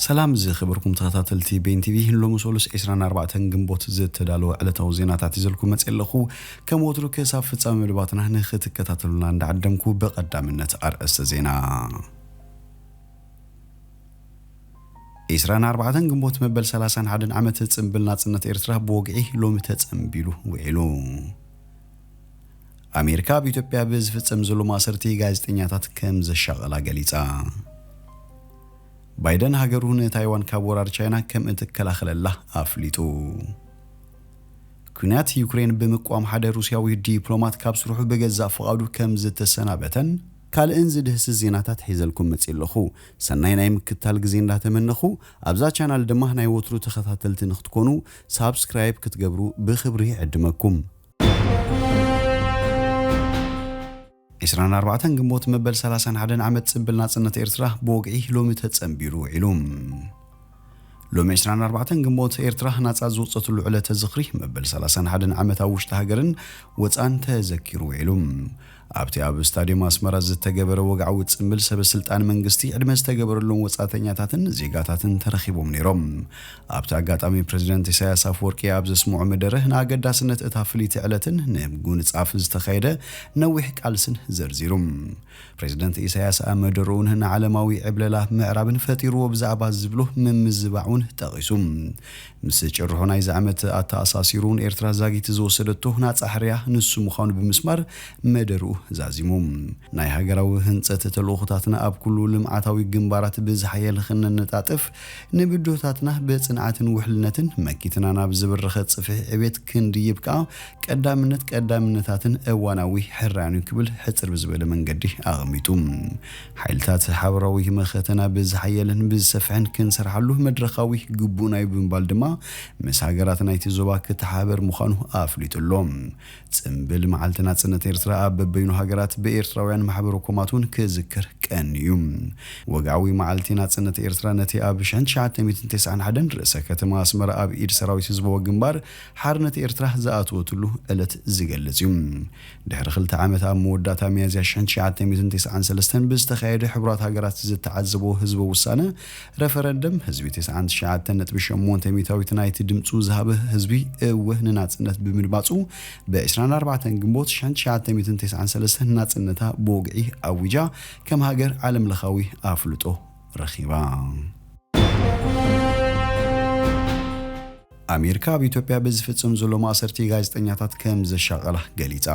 ሰላም ዝኸበርኩም ተኸታተልቲ ቤን ቲቪ ሎሚ ሰሉስ 24 ግንቦት ዝተዳለወ ዕለታዊ ዜናታት ይዘልኩም መፅእ ኣለኹ ከም ወትሩ ክሳብ ፍፃሚ መደባትና ንኽትከታተሉና እንዳዓደምኩ ብቐዳምነት ኣርእስተ ዜና 24 ግንቦት መበል 31 ዓመት ፅምብል ናፅነት ኤርትራ ብወግዒ ሎሚ ተፀምቢሉ ውዒሉ ኣሜሪካ ኣብ ኢትዮጵያ ብዝፍጸም ዘሎ ማእሰርቲ ጋዜጠኛታት ከም ዘሻቐላ ገሊጻ። ባይደን ሃገሩ ንታይዋን ካብ ወራር ቻይና ከም እትከላኸለላ ኣፍሊጡ። ኲናት ዩክሬን ብምቅዋም ሓደ ሩስያዊ ዲፕሎማት ካብ ስርሑ ብገዛእ ፍቓዱ ከም ዝተሰናበተን ካልእን ዝድህስስ ዜናታት ሒዘልኩም መጺእ ኣለኹ። ሰናይ ናይ ምክትታል ግዜ እንዳተመነኹ፣ ኣብዛ ቻናል ድማ ናይ ወትሩ ተኸታተልቲ ንክትኮኑ ሳብስክራይብ ክትገብሩ ብኽብሪ እዕድመኩም። ዕስራን ኣርባዕተን ግንቦት መበል ሰላሳን ሓደን ዓመት ጽብል ናጽነት ኤርትራ ብወግዒ ሎሚ ተጸንቢሩ ውዒሉ። ሎሚ ዕስራን ኣርባዕተን ግንቦት ኤርትራ ናጻ ዝወጸትሉ ዕለተ ዝኽሪ መበል ሰላሳን ሓደን ዓመት ኣብ ውሽጢ ሃገርን ወጻእን ተዘኪሩ ውዒሉ። ኣብቲ ኣብ ስታድዮም ኣስመራ ዝተገበረ ወግዓዊ ጽምብል ሰበ ስልጣን መንግስቲ ዕድመ ዝተገበረሎም ወጻእተኛታትን ዜጋታትን ተረኺቦም ነይሮም። ኣብቲ ኣጋጣሚ ፕረዚደንት ኢሳይያስ ኣፍወርቂ ኣብ ዘስምዖ መደረ ንኣገዳስነት እታ ፍልይቲ ዕለትን ንምጉንጻፍ ዝተኻየደ ነዊሕ ቃልስን ዘርዚሩ። ፕረዚደንት ኢሳይያስ ኣብ መደርኡን ንዓለማዊ ዕብለላ ምዕራብን ፈጢርዎ ብዛዕባ ዝብሎ ምምዝባዕ'ውን ጠቒሱ። ምስ ጭርሖ ናይዚ ዓመት ኣተኣሳሲሩ ንኤርትራ ዛጊት ዝወሰደቶ ናጻ ሕርያ ንሱ ምዃኑ ብምስማር መደርኡ ዛዚሙ። ናይ ሃገራዊ ህንጸት ተልእኾታትና ኣብ ኩሉ ልምዓታዊ ግንባራት ብዝሓየለ ክነነጣጥፍ፣ ንብድሆታትና ብጽንዓትን ውሕልነትን መኪትና ናብ ዝበረኸ ጽፍሒ ዕብየት ክንድይብ ከኣ ቀዳምነት ቀዳምነታትን እዋናዊ ሕራያን'ዩ ክብል ሕጽር ብዝበለ መንገዲ ኣቐሚጡ። ሓይልታት ሓበራዊ መኸተና ብዝሓየለን ብዝሰፍሐን ክንሰርሓሉ መድረኻዊ ግቡእና'ዩ ብምባል ድማ ምስ ሃገራት ናይቲ ዞባ ክተሓባበር ምዃኑ ኣፍሊጡ ኣሎ። ጽምብል መዓልቲ ናጽነት ኤርትራ ኣብ በበይኑ ሃገራት ብኤርትራውያን ማሕበረ ኮማት'ውን ክዝከር ቀንዩ። ወግዓዊ መዓልቲ ናጽነት ኤርትራ ነቲ ኣብ ሽሕን ትሽዓተ ሚእትን ተስዓን ሓደን ርእሰ ከተማ ኣስመራ ኣብ ኢድ ሰራዊት ህዝባዊ ግንባር ሓርነት ኤርትራ ዝኣተወትሉ ዕለት ዝገልጽ'ዩ። ድሕሪ ክልተ ዓመት ኣብ መወዳእታ ሚያዝያ ሽሕን ትሽዓተ ሚእትን ቴስዓን ሰለስተን ብዝተኻየደ ሕቡራት ሃገራት ዝተዓዘቦ ህዝበ ውሳነ፣ ረፈረንደም፣ ህዝቢ ተስዓን ትሽዓተን ነጥቢ ሸሞንተ ሚታዊት ናይቲ ድምጹ ዝሃበ ህዝቢ እወ ንናጽነት ብምድማጹ ብ ዕስራን ኣርባዕተን ግንቦት ሽሕን ትሽዓተ ሚእትን ቴስዓን ሰለስተን ናጽነታ ብወግዒ ኣዊጃ ከም ሃገር ዓለምለኻዊ ኣፍልጦ ረኺባ። ኣሜሪካ ኣብ ኢትዮጵያ ብዝፍጽም ዘሎ ማእሰርቲ ጋዜጠኛታት ከም ዘሻቐላ ገሊጻ።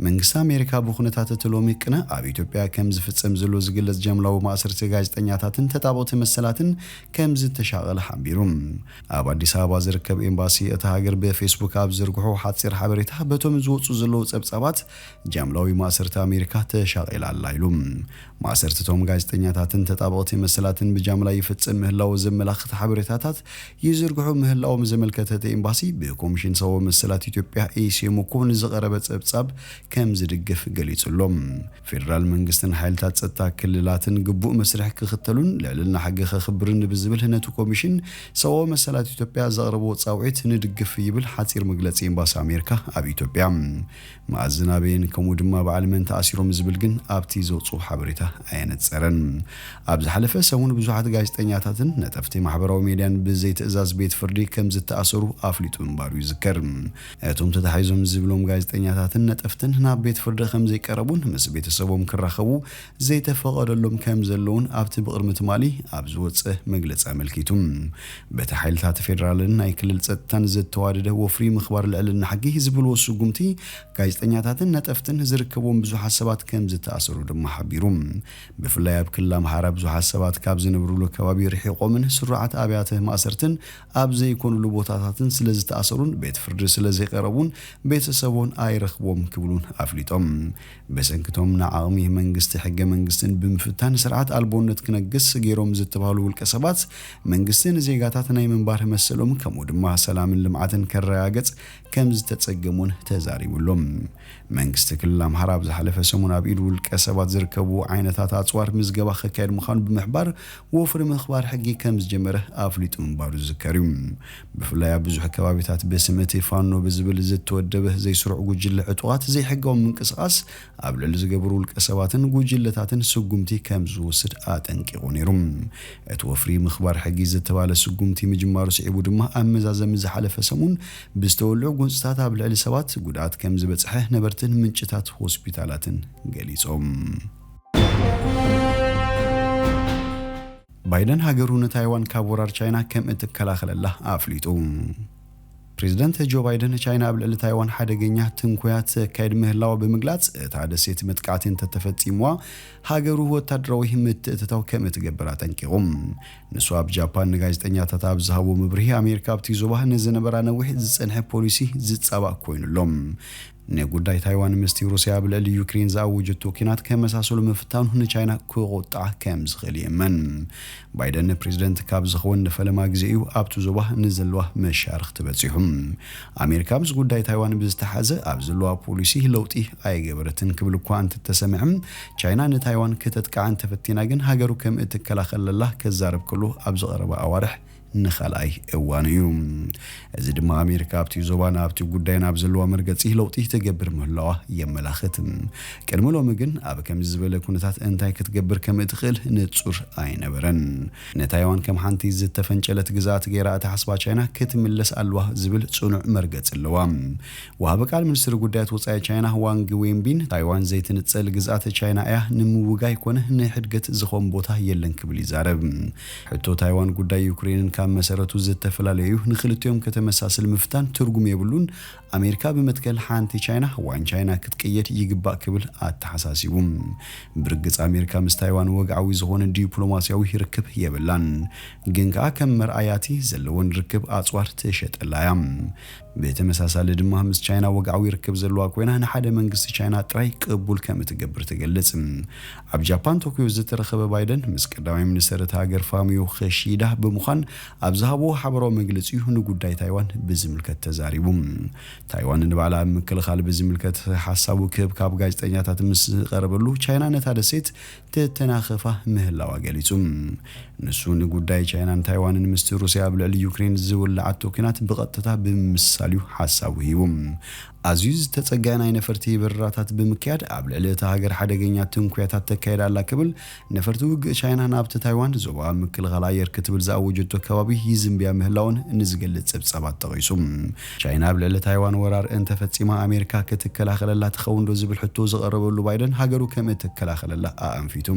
መንግስቲ ኣሜሪካ ብኩነታት እቲ ሎሚ ቅነ ኣብ ኢትዮጵያ ከም ዝፍጸም ዘሎ ዝግለጽ ጃምላዊ ማእሰርቲ ጋዜጠኛታትን ተጣበቕቲ መሰላትን ከም ዝተሻቐለ ሓቢሩ። ኣብ ኣዲስ ኣበባ ዝርከብ ኤምባሲ እታ ሃገር ብፌስቡክ ኣብ ዝዘርግሖ ሓጺር ሓበሬታ በቶም ዝወጹ ዘለዉ ጸብጻባት ጃምላዊ ማእሰርቲ ኣሜሪካ ተሻቒላ ኣላ ኢሉ። ማእሰርቲ'ቶም ጋዜጠኛታትን ተጣበቕቲ መሰላትን ብጃምላ ይፍጽም ምህላዉ ዘመላኽት ሓበሬታታት ይዝርግሑ ምህላዎም ዘመልከተ እቲ ኤምባሲ፣ ብኮሚሽን ሰብኣዊ መሰላት ኢትዮጵያ፣ ኤሲኤምኮ፣ ንዝቐረበ ጸብጻብ ከምዝድግፍ ገሊጹ ኣሎ። ፌደራል መንግስትን ሓይልታት ጸጥታ ክልላትን ግቡእ መስርሕ ክኽተሉን ልዕልና ሕጊ ከኽብርን ብዝብል ነቲ ኮሚሽን ሰብኣዊ መሰላት ኢትዮጵያ ዘቕረቦ ጻውዒት ንድግፍ ይብል ሓጺር መግለጺ ኤምባሲ ኣሜሪካ ኣብ ኢትዮጵያ። መኣዝን ኣበየን ከምኡ ድማ በዓል መን ተኣሲሮም ዝብል ግን ኣብቲ ዘውጽኡ ሓበሬታ ኣየነጸረን። ኣብ ዝሓለፈ ሰሙን ብዙሓት ጋዜጠኛታትን ነጠፍቲ ማሕበራዊ ሜድያን ብዘይትእዛዝ ቤት ፍርዲ ከም ዝተኣሰሩ ኣፍሊጡ ምንባሩ ይዝከር። እቶም ተታሒዞም ዝብሎም ጋዜጠኛታትን ነጠፍትን ናብ ቤት ፍርዲ ከም ዘይቀረቡን ምስ ቤተሰቦም ክራኸቡ ዘይተፈቐደሎም ከም ዘለዉን ኣብቲ ብቕድሚ ትማሊ ኣብ ዝወጸ መግለጺ ኣመልኪቱ። በቲ ሓይልታት ፌደራልን ናይ ክልል ጸጥታን ዘተዋደደ ወፍሪ ምኽባር ልዕልና ሕጊ ዝብልዎ ስጉምቲ ጋዜጠኛታትን ነጠፍትን ዝርከብዎም ብዙሓት ሰባት ከም ዝተኣሰሩ ድማ ሓቢሩ። ብፍላይ ኣብ ክልል ኣምሓራ ብዙሓት ሰባት ካብ ዝነብርሉ ከባቢ ርሒቖምን ስሩዓት ኣብያተ ማእሰርትን ኣብ ዘይኮንሉ ቦታታትን ስለ ዝተኣሰሩን ቤት ፍርዲ ስለ ዘይቐረቡን ቤተሰቦን ኣይረኽብዎም ክብሉን ኣፍሊጦም። ብሰንኪ'ቶም ንዓቕሚ መንግስቲ ሕገ-መንግስትን ብምፍታን ስርዓት ኣልቦነት ክነግስ ገይሮም ዝተባህሉ ውልቀሰባት፣ መንግስቲ ንዜጋታት ናይ ምንባር መሰሎም ከምኡ ድማ ሰላምን ልምዓትን ከረጋገጽ ከምዝተጸገም'ውን ተዛሪቡ ኣሎ። መንግስቲ ክልል ኣምሓራ ኣብ ዝሓለፈ ሰሙን ኣብ ኢድ ውልቀሰባት ዝርከቡ ዓይነታት ኣጽዋር ምዝገባ ከካይድ ምዃኑ ብምሕባር ወፍሪ ምኽባር ሕጊ ከምዝጀመረ ኣፍሊጡ ምንባሩ ዝዝከር'ዩ። ብፍላይ ኣብ ብዙሕ ከባቢታት ብስም እቲ ፋኖ ብዝብል ዝተወደበ ዘይስሩዕ ጉጅለ ዕጡቓት ዘይሕጋዊ ምንቅስቓስ ኣብ ልዕሊ ዝገብሩ ውልቀሰባትን ጉጅለታትን ስጉምቲ ከም ዝውስድ ኣጠንቂቑ ነይሩ። እቲ ወፍሪ ምኽባር ሕጊ ዝተባህለ ስጉምቲ ምጅማሩ ስዒቡ ድማ ኣብ መዛዘሚ ዝሓለፈ ሰሙን ብዝተወልዑ ጎንፅታት ኣብ ልዕሊ ሰባት ጉድኣት ከም ዝበፅሐ ነበርትን ምንጭታት ሆስፒታላትን ገሊፆም። ባይደን ሃገሩ ንታይዋን ካብ ወራር ቻይና ከም እትከላኸለላ ኣፍሊጡ። ፕሬዝደንት ጆ ባይደን ቻይና ኣብ ልዕሊ ታይዋን ሓደገኛ ትንኮያ ተካይድ ምህላዋ ብምግላፅ እታ ደሴት መጥቃዕቲ እንተተፈፂምዋ ሃገሩ ወታደራዊ ምትእትታው ከም እትገብር ኣጠንቂቑ። ንሱ ኣብ ጃፓን ንጋዜጠኛታት ኣብ ዝሃቦ መብርሂ ኣሜሪካ ኣብቲ ዞባ ንዝነበራ ነዊሕ ዝፀንሐ ፖሊሲ ዝፃባእ ኮይኑ ኣሎ። ንጉዳይ ታይዋን ምስቲ ሩስያ ኣብ ልዕሊ ዩክሬን ዝኣወጀቶ ኲናት ከመሳስሎ ምፍታኑ ንቻይና ከቖጥዓ ከም ዝኽእል ይእመን። ባይደን ፕሬዝደንት ካብ ዝኸውን ንፈለማ ግዜ እዩ ኣብቲ ዞባ ንዘለዋ መሻርኽቲ በጺሑ። ኣሜሪካ ምስ ጉዳይ ታይዋን ብዝተሓሓዘ ኣብ ዘለዋ ፖሊሲ ለውጢ ኣይገበረትን ክብል እኳ እንተተሰምዐ፣ ቻይና ንታይዋን ክተጥቅዓ እንተፈቲና ግን ሃገሩ ከም እትከላኸለላ ከዛረብ ከሎ ኣብዚ ቀረባ ኣዋርሕ ንኻልኣይ እዋኑ እዩ። እዚ ድማ ኣሜሪካ ኣብቲ ዞባን ኣብቲ ጉዳይን ኣብ ዘለዋ መርገጺ ለውጢ ትገብር ምህላዋ የመላኽት። ቅድሚ ሎሚ ግን ኣብ ከምዚ ዝበለ ኩነታት እንታይ ክትገብር ከም እትኽእል ንጹር ኣይነበረን። ንታይዋን ከም ሓንቲ ዝተፈንጨለት ግዝኣት ገይራ እትሓስባ ቻይና ክትምለስ ኣለዋ ዝብል ጽኑዕ መርገጺ ኣለዋ። ወሃቢ ቃል ሚኒስትሪ ጉዳያት ወጻኢ ቻይና ዋንግ ዌንቢን ታይዋን ዘይትንጸል ግዝኣት ቻይና እያ፣ ንምውጋይ ኮነ ንሕድገት ዝኸውን ቦታ የለን ክብል ይዛረብ። ሕቶ ታይዋን ጉዳይ ዩክሬንን ካብ መሰረቱ ዝተፍላለዩ'ዩ፣ ንክልቲኦም ከተመሳስል ምፍታን ትርጉም የብሉን፣ ኣሜሪካ ብመትከል ሓንቲ ቻይና ዋን ቻይና ክትቅየድ ይግባእ ክብል ኣተሓሳሲቡ። ብርግጽ ኣሜሪካ ምስ ታይዋን ወግዓዊ ዝኾነ ዲፕሎማሲያዊ ርክብ የብላን፣ ግን ከኣ ከም መርኣያ'ቲ ዘለወን ርክብ ኣጽዋር ትሸጠላ'ያ። ብተመሳሳሊ ድማ ምስ ቻይና ወግዓዊ ርክብ ዘለዋ ኮይና ንሓደ መንግስቲ ቻይና ጥራይ ቅቡል ከም እትገብር ትገልጽ። ኣብ ጃፓን ቶክዮ ዝተረኸበ ባይደን ምስ ቀዳማይ ሚኒስተር እታ ሃገር ፋሚዮ ኽሺዳ ብምዃን ኣብ ዝሃብዎ ሓበራዊ መግለጺ'ዩ ንጉዳይ ታይዋን ብዝምልከት ተዛሪቡ። ታይዋን ንባዕላ ኣብ ምክልኻል ብዝምልከት ሓሳቡ ክህብ ካብ ጋዜጠኛታት ምስ ዝቐረበሉ ቻይና ነታ ደሴት ተተናኽፋ ምህላዋ ገሊጹ። ንሱ ንጉዳይ ቻይናን ታይዋንን ምስቲ ሩስያ ኣብ ልዕሊ ዩክሬን ዝውልዓቶ ኲናት ብቐጥታ ብምምስሳል'ዩ ሓሳቡ ሂቡ። ኣዝዩ ዝተጸግዐ ናይ ነፈርቲ በረራታት ብምክያድ ኣብ ልዕሊ እታ ሃገር ሓደገኛ ትንኲያታት ተካይድ ኣላ ክብል፣ ነፈርቲ ውግእ ቻይና ናብቲ ታይዋን ዞባ ምክልኻል ኣየር ክትብል ዝኣወጀቶ ከባቢ ይዝምብያ ምህላወን ንዝገልጽ ጸብጻባት ጠቒሱ። ቻይና ኣብ ልዕሊ ታይዋን ወራር እንተ ፈጺማ ኣሜሪካ ክትከላኸለላ ትኸውንዶ ዝብል ሕቶ ዝቐረበሉ ባይደን ሃገሩ ከም እትከላኸለላ ኣኣንፊቱ።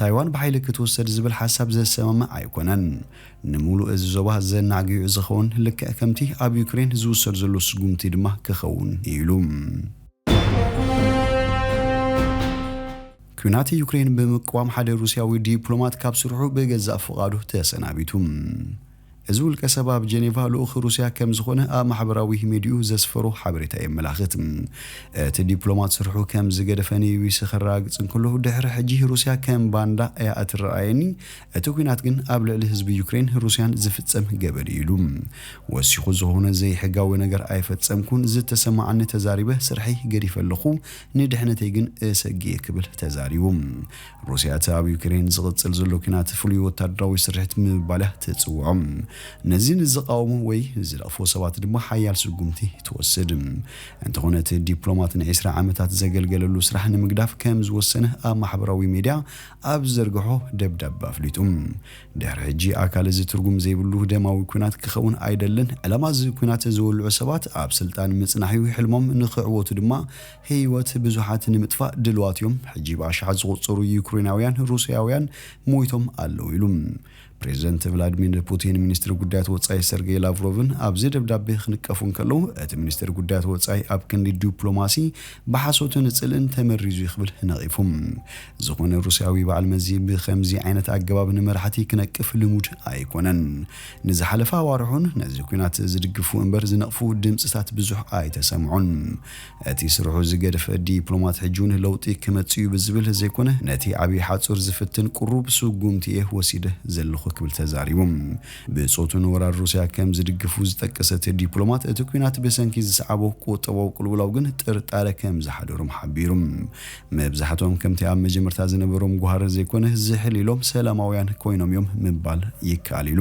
ታይዋን ብሓይሊ ክትውሰድ ዝብል ሓሳብ ዘሰማምዕ ኣይኮነን። ንምሉእ እዚ ዞባ ዘናግዩ ዝኸውን ልክዕ ከምቲ ኣብ ዩክሬን ዝውሰድ ዘሎ ስጉምቲ ድማ ክኸውን እዩ ኢሉ። ኲናት ዩክሬን ብምቅዋም ሓደ ሩስያዊ ዲፕሎማት ካብ ስርሑ ብገዛእ ፍቓዱ ተሰናቢቱ። እዚ ውልቀሰብ ኣብ ጀኔቫ ልኡኽ ሩስያ ከም ዝኾነ ኣብ ማሕበራዊ ሚዲይኡ ዘስፈሮ ሓበሬታ የመላኽት። እቲ ዲፕሎማት ስርሑ ከም ዝገደፈ ንቢቢሲ ከረጋግጽ እንከሎ፣ ድሕሪ ሕጂ ሩስያ ከም ባንዳ እያ እትረኣየኒ፣ እቲ ኲናት ግን ኣብ ልዕሊ ህዝቢ ዩክሬን ሩስያን ዝፍጸም ገበን እዩ ኢሉ። ወሲኹ ዝኾነ ዘይሕጋዊ ነገር ኣይፈጸምኩን፣ ዝተሰማዓኒ ተዛሪበ ስርሐይ ገዲፈ ኣለኹ፣ ንድሕነተይ ግን እሰግእ'የ ክብል ተዛሪቡ። ሩስያ እቲ ኣብ ዩክሬን ዝቕጽል ዘሎ ኲናት ፍሉይ ወተሃደራዊ ስርሒት ብምባል እያ ትጽውዖ። ነዚ ንዝቓወሙ ወይ ዝነቕፉ ሰባት ድማ ሓያል ስጉምቲ ትወስድ። እንተዀነ እቲ ዲፕሎማት ንዒስራ ዓመታት ዘገልገለሉ ስራሕ ንምግዳፍ ከም ዝወሰነ ኣብ ማሕበራዊ ሜድያ ኣብ ዝዘርግሖ ደብዳበ ኣፍሊጡ። ድሕሪ ሕጂ ኣካል እዚ ትርጉም ዘይብሉ ደማዊ ኲናት ክኸውን ኣይደልን፣ ዕላማ እዚ ኲናት ዘወልዑ ሰባት ኣብ ስልጣን ምጽናሕ'ዩ፣ ሕልሞም ንኽዕወቱ ድማ ህይወት ብዙሓት ንምጥፋእ ድልዋት እዮም፣ ሕጂ ብኣሽሓት ዝቑጸሩ ዩክሬናውያን ሩስያውያን ሞይቶም ኣለዉ ኢሉ። ፕሬዝደንት ቭላድሚር ፑቲን ሚኒስትሪ ጉዳያት ወጻኢ ሰርጌይ ላቭሮቭን ኣብዚ ደብዳቤ ክንቀፉ እንከለዉ፣ እቲ ሚኒስትር ጉዳያት ወጻኢ ኣብ ክንዲ ዱፕሎማሲ ብሓሶትን ጽልእን ተመሪዙ እዩ ክብል ነቒፉ። ዝኾነ ሩስያዊ በዓል መዚ ብኸምዚ ዓይነት ኣገባብ ንመራሕቲ ክነቅፍ ልሙድ ኣይኮነን። ንዝሓለፈ ኣዋርሕ'ውን ነዚ ኲናት ዝድግፉ እምበር ዝነቕፉ ድምጽታት ብዙሕ ኣይተሰምዑን። እቲ ስርሑ ዝገድፈ ዲፕሎማት ሕጂውን ለውጢ ክመጽእዩ ብዝብል ዘይኮነ ነቲ ዓብይ ሓጹር ዝፍትን ቁሩብ ስጉምቲ'የ ወሲደ ዘለኹ ክብል ተዛሪቡ። ብጾቱ ንወራር ሩስያ ከም ዝድግፉ ዝጠቀሰ እቲ ዲፕሎማት እቲ ኲናት ብሰንኪ ዝሰዓቦ ቁጠባዊ ቅልውላው ግን ጥርጣረ ከም ዝሓደሮም ሓቢሩ። መብዛሕትኦም ከምቲ ኣብ መጀመርታ ዝነበሮም ጉሃር ዘይኮነ ዝሕል ኢሎም ሰላማውያን ኮይኖም'ዮም ምባል ይከኣል'ዩ ኢሉ።